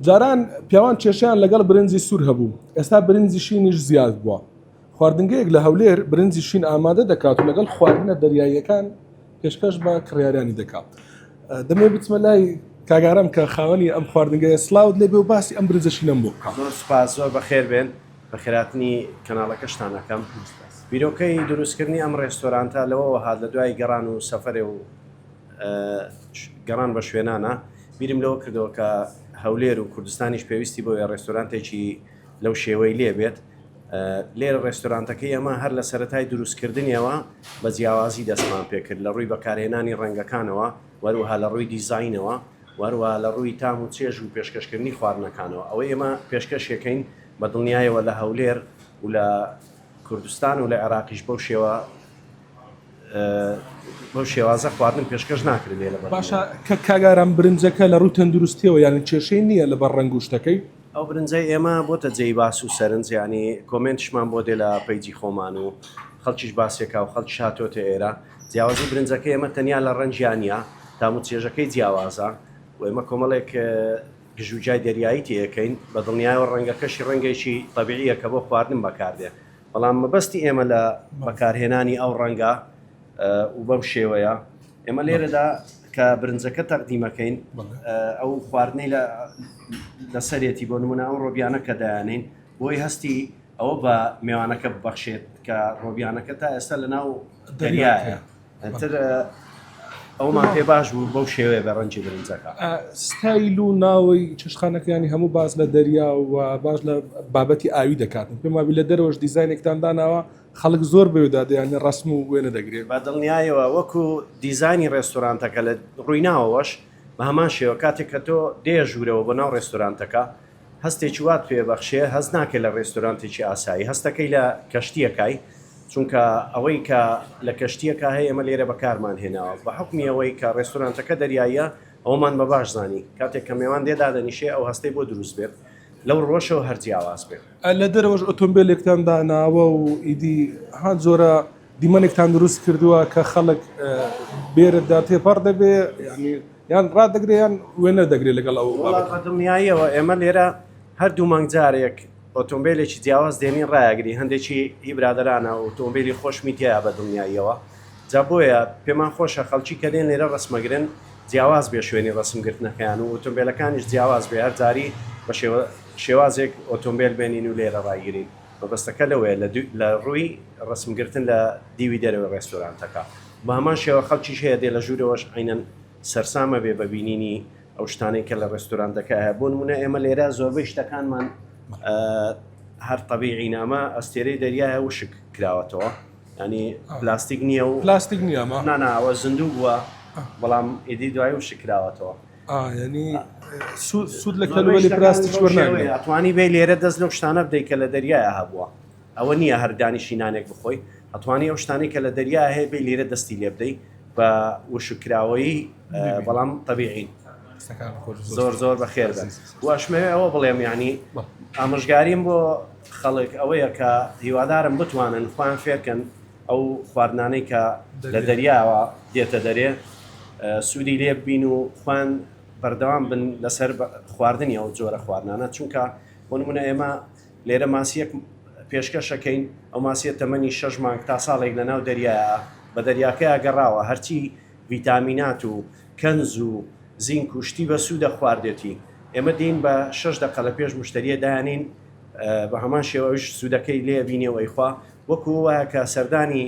جاران پیاوان کێشەیان لەگەڵ برنجی سوور هەبوو، ئێستا برنجی شینیش زیاد بووە. خواردنگەیەک لە هەولێر برنجی شین ئامادە دەکات و لەگەڵ خواردنە دەریاییەکان پێشکەش بە کڕیارانی دەکات. دەمەوێت بچمە لای کاک ئارام کە خاوەنی ئەم خواردنگەیە سڵاوت لێبێ و باسی ئەم برنجە شینەم بۆ بکە. زۆر سوپاس، زۆر بەخێربێن. بەخێرهاتنی کەناڵەکەشتان ئەکەم. بیرۆکەی دروستکردنی ئەم ڕێستۆرانتە لەوەوە هات لە دوای گەڕان و سەفەرێ و، گەڕان بە شوێنانە، بیرم لەوە کردەوە کە هەولێر و کوردستانیش پێویستی بۆیە ڕێستۆرانتێکی لەو شێوەی لێ بێت. لێرە ڕێستۆرانتەکەی ئێمە هەر لە سەرەتای دروستکردنیەوە بە جیاوازی دەستمان پێ کرد لە ڕووی بەکارهێنانی ڕەنگەکانەوە، وەروەها لە ڕووی دیزاینەوە، وەروەها لە ڕووی تام و چێژ و پێشکەشکردنی خواردنەکانەوە. ئەوەی ئێمە پێشکەشیەکەین بە دڵنیایەوە لە هەولێر و لە کوردستان و لە عێراقیش بەو شێوە، بەو شێوازە خواردن پێشکەش ناکرێت لە باشە کە کاگاران برنجەکە لە ڕووی تەندروستیەوە یان کێشەی نییە لە بە ڕنگوشتەکەی ئەو برنجە ئێمە بۆتە جێی باس و سەرنجیانی کۆمنتشمان بۆ دێ لە پەیجی خۆمان و خەڵکیش باسێکا و خەڵک شاتۆتە ئێرە جیاوازی برنجەکە ئێمە تەنیا لە ڕەنجیانە تام و چێژەکەی جیاوازە و ئێمە کۆمەڵێک گژوجای دەریایی تێەکەین بە دڵنیایەوە ڕەنگەکەشی ڕەنگەیشی تەبیعیە کە بۆ خواردن بەکاردێ بەڵام مەبەستی ئێمە لە بەکارهێنانی ئەو ڕەنگە و بەم شێوەیە ئێمە لێرەدا کە برنجەکە تەقدیمەکەین ئەو خواردنەی لەسەرێتی بۆ نمونە ئەو ڕۆبیانە کە دایانین بۆی هەستی ئەوە بە مێوانەکە ببەخشێت کە ڕۆبیانەکە تا ئێستا لە ناو دەریایە ئیتر ئەومان پێ باش بوو بەو شێوەیە بە ڕەنجی برنجەکە ستایل و ناوەی چشخانەکەیانی هەموو باز لە دەریا و باش لە بابەتی ئاوی دەکات پێم وابی لە دەرەوەش دیزانێکتان داناوە خەڵک زۆر بەوێدا دەیانە ڕسم و وێنە دەگرێت بە دڵنیایەوە وەکو دیزانی ڕێستورانتەکە لە ڕوویناوەش بە هەمان شێوە کاتێک کە تۆ دێژوورەوە بۆ ناو ڕێستورانتەکە هەستێکی وات پێ بەخشێ هەست ناکەی لە ڕێستۆرانتێکی ئاسایی، هەستەکەی لە کەشتییەکای، چونکە ئەوەی کە لە کەشتییەکا هەیە ئێمە لێرە بەکارمان هێناوە. بە حوکمی ئەوەی کە ڕێستۆرانتەکە دەریاییە، ئەوەمان بە باش زانی کاتێک کە مێوان لێ دادەنیشێ ئەو هەستەی بۆ دروست بێت لەو ڕووەشەوە هەر جیاواز بێ. لە دەرەوەش ئۆتۆمبێلێکتان داناوە و ئیدی هان جۆرە دیمەنێکتان دروست کردووە کە خەڵک بێرەدا تێپەڕ دەبێ، یانی یان ڕادەگرێ یان وێنە دەگرێ لەگەڵ ئەو بابەتە. وەڵا بەدڵنیاییەوە ئێمە لێرە هەر دوو مانگ جارێک ئۆتۆمبێلێکی جیاواز دێنین ڕایەگری هەندێکی هی برادەرانە ئۆتۆمبێلی خۆشمی تیایە بەدڵنیاییەوە جا بۆیە پێمان خۆشە خەڵکی کە دێن لێرە ڕەسمەگرن جیاواز بێ شوێنی ڕەسم گرتنەکەیان و ئۆتۆمبێلەکانیش جیاواز بێ هەر جاری بە شێوە شێوازێک ئۆتۆمبێل بێنین و لێرە ڕایگرین مەبەستەکە لەوەیە لە دوی لە ڕووی ڕەسم گرتن لە دیوی دەرەوەی ڕێستۆرانتەکە. بەهەمان شێوە خەڵکیش هەیە دێ لە ژوورەوەش عەینەن سەرسام ئەبێ بە بینینی ئەو شتانەی کە لە ڕێستۆرانتەکە هەیە بۆ نموونە ئێمە لێرە زۆربەی شتەکانمان هەر تەبیعین ئەمە ئەستێرەی دەریایە وشک کراوەتەوە ینی پلاستیک نییە و پلاستیک نییەمە ناناوە زیندوو بووە بەڵام ئیدی دوای وشک کراوەتەوە ینی سوود لە کەلوەلی پلاستیک وەرناوێ ئەتوانی بێ لێرە دەست لەو شتانە بدەیت کە لە دەریایە هەبووە ئەوە نییە هەر دانیشی نانێک بخۆی، ئەتوانی ئەو شتانەی کە لە دەریا هەیە بێی لێرە دەستی لێ بدەی بە وشککراوەیی بەڵام تەبیعین. زۆر زۆر بەخێر بن واشمەوێ ئەوە بڵێم یعنی ئامژگاریم بۆ خەڵک ئەوەیە کە هیوادارم بتوانن خۆیان فێرکەن ئەو خواردنانەی کە لە دەریاوە دێتە دەرێ سوودی لێ بین و خوان بەردەوام بن لەسەر خواردنی ئەو جۆرە خواردنانە چونکە بۆ نمونە ئێمە لێرە ماسییەک پێشکەش ئەکەین، ئەو ماسییە تەمەنی شەش مانگ تا ساڵێک لەناو دەریایە، بە دەریاکەیا گەڕاوە، هەرچی ڤیتامینات و کەنز و زینک و شتی بەسوودە خواردێتی، ئێمە دێین بە شەش دەقە لە پێش موشتەرییە دایانێین، بە هەمان شێوە ئەویش سوودەکەی لێ ئەبینێ و ئەیخوا، وەکو وایە کە سەردانی.